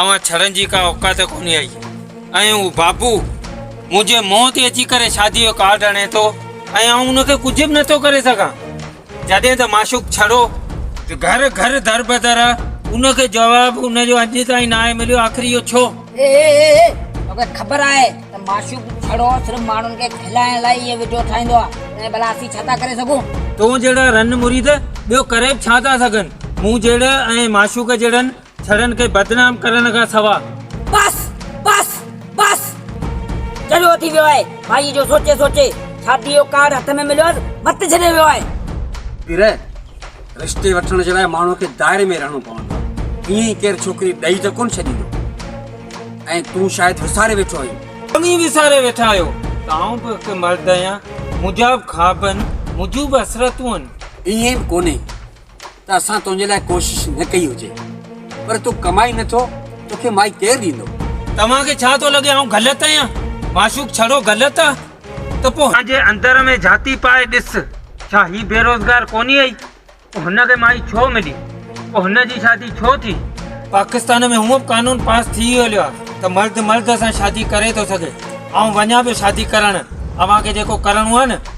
اوهان ڇڙن جي ڪا اوقات ڪونهي آهي ۽ هو بابو منهنجي منهن تي اچي ڪري شادي جو ڪارڊ هڻي ٿو ۽ آئون ان کي ڪجهه به نٿو ڪري سگهان جڏهن ته معشوق ڇڙو گهر گهر در بدر ان کي جواب ان جو اڄ تائين ناهي مليو آخر اهو ڇو اي اي اي اي توکي خبر آهي ته معشوق ڇڙو صرف ماڻهن کي کلائڻ لاء اهي ويڊيو ٺاهيندو آهي ۽ ڀلا اسين ڇا ٿا ڪري سگهون تون جهڙا رن مريد ٻيو ڪري به ڇا ٿا سگهن مون جهڙي ۽ معشوق جهڙن ڇڙن کي بدنام ڪرڻ کان سوا. بس بس بس چريو ٿي ويو آهي مائي جو سوچي سوچي شادي جو ڪارڊ هٿ ۾ مليوس وت ڇڏي ويو آهي. پير رشتي وٺڻ جي لاء ماڻهو کي دائري ۾ رهڻو پوندو آهي ائين ئي ڪير ڇوڪري ڏئي ته ڪونه ڇڏيندو ۽ تون شايد وساري ويٺو آهين. اوهين وساري ويٺا آهيو ته آئون به هڪ مرد آهيان منهنجا به خواب آهن منهنجون به حسرتون آهن. ائين به ڪونهي. ته اسان تنهنجي لاء ڪوشش نه ڪئي هجي پر تون ڪمائي نٿو توکي مائي ڪير ڏيندو توهان کي ڇا ٿو لڳي آئون غلط آهيان معشوق ڇڙو غلط آ ته پو جي اندر ۾ جھاتي پائي ڏس ڇا هي بيروزگار ڪونهي هئي پو هن کي مائي ڇو ملي پو هن جي شادي ڇو ٿي پاڪستان ۾ هونء به قانون پاس ٿي ئي هليو آ ته مرد مرد سان شادي ڪري ٿو سگهي آئون وڃان پيو شادي ڪرڻ اوهان کي جيڪو ڪرڻو آ نه